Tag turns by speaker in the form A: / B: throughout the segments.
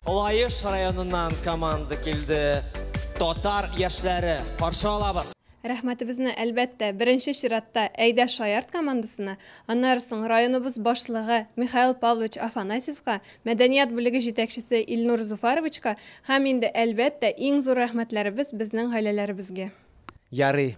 A: Лаеш районыннан команда килде. Татар яшьләре каршы алабыз. Рәхмәтебезне
B: әлбәттә беренче чиратта Әйдә Шаярт командасына, аннары соң районыбыз башлыгы Михаил Павлович Афанасьевка, мәдәният бүлеге җитәкчесе Илнур Зуфаровичка һәм инде әлбәттә иң зур рәхмәтләребез безнең гаиләләребезгә. Ярый,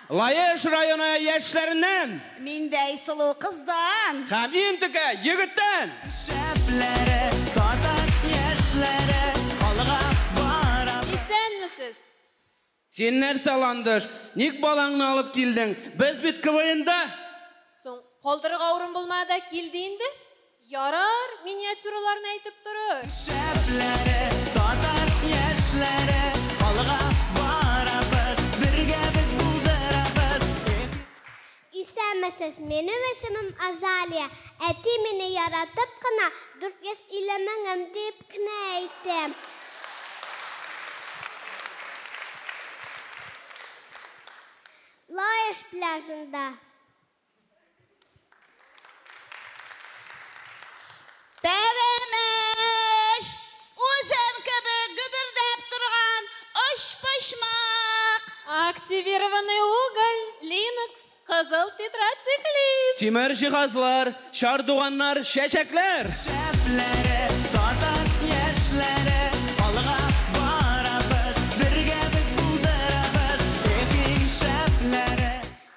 C: Лаеш
D: районы яшьләреннән. Миндәй
C: сылу кыздан. Һәм иң текә
D: егеттән. Шәпләре,
E: татар яшьләре алга бара. Исәнмесез!
B: Син
D: нәрсә, ландыш, ник балаңны алып килдең? Без бит КВНда! Соң,
B: калдырырга урын булмады да килде инде. Ярар, миниатюраларны әйтеп торыр. Шәпләре,
E: татар яшьләре, алга барабыз, бергә без булдырабыз, эх! Исәнмесез,
F: минем исемем Азалия. Әти мине яратып кына 450 меңем дип кенә әйтте. Лаеш пляжында.
C: Пәрәмәч! Үзем кебек гөбердәп торган очпочмак! Активированный
B: уголь, Linux, кызыл тетрациклит. Тимер җиһазлар,
D: чардуганнар, чәчәкләр! Шәпләре,
E: татар яшьләре, алга барабыз, бергә без булдырабыз, эпи шәпләре.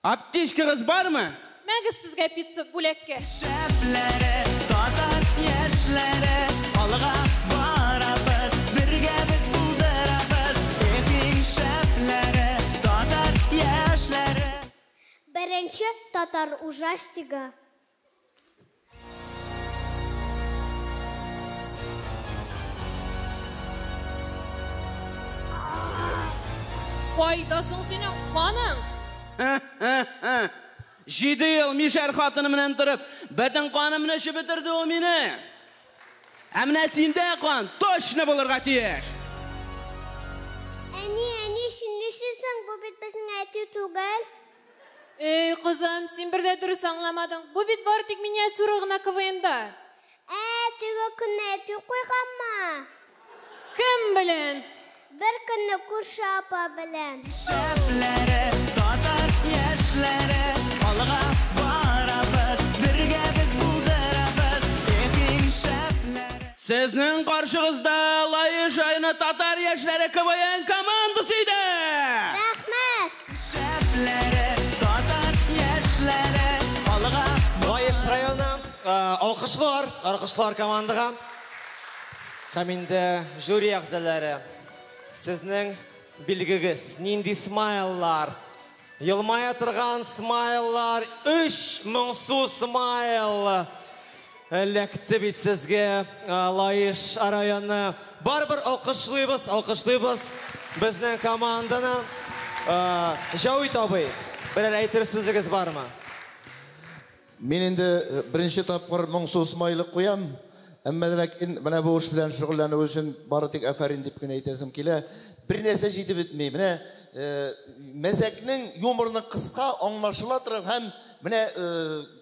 B: Аптечкагыз
D: бармы? Мәгез сезгә
B: пицца бүләккә! Шәпләре,
E: татар яшьләре, алга барабыз, бергә без булдырабыз, эх иң шәпләре, татар яшьләре.
F: Беренче татар ужастигы
B: Кайда соң синең каның?
D: Җиде ел мишәр хатыны белән торып, бөтен канымны эчеп бетерде ул мине. Ә менә синдә кан точно булырга тиеш. Әни,
F: әни, чынлыйсы соң, бу бит безнең әти түгел. Эй,
B: кызым, син бер дә дөрес аңламадың. Бу бит бары тик миниатюра гына КВНда. Ә,
F: теге көнне әти куйганмы? Кем
B: белән? Бер көнне
F: күрше апа белән. Шәпләре,
E: татар яшьләре, алга барабыз, бергә без булдырабыз, эх и шәпләре. Сезнең
D: каршыгызда Лаешайны татар яшьләре КВН командасы иде! Рәхмәт!
E: Лаеш районы,
A: алкышлар, алкышлар командага. Һәм инде жюри әгъзаләре, сезнең билгегез, нинди смайллар? Елмая торган смайллар, өч моңсу смайл! Эләкте бит сезгә Лаеш районы. Барыбер алкышлыйбыз, алкышлыйбыз безнең команданы. Җәвит абый, берәр әйтер сүзегез бармы?
G: Мин инде беренче тапкыр моңсу смайлик куям. Әмма дә ләкин менә бу эш белән шөгыльләнү өчен бары тик афәрин дип кенә әйтәсем килә. Бернәрсә җитеп бетми. Менә мәзәкнең, юморның кыска, аңлашыла торган һәм менә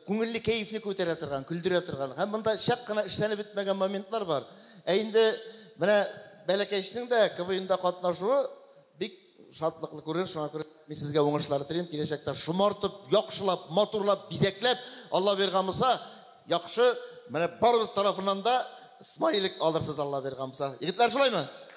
G: Күңелле кәефне күтәрә торган, көлдерә торган. Һәм монда чак кына эшләнеп бетмәгән моментлар бар. Ә инде менә бәләкәчнең дә КВНда катнашуы бик шатлыклы күренеш, шуңа күрә мин сезгә уңышлар телим. Киләчәктә шомартып, яхшылап, матурлап, бизәкләп, Алла биргән булса, яхшы, менә барыбыз тарафыннан да смайлик алырсыз, Алла
A: биргән
G: булса. Егетләр, шулаймы?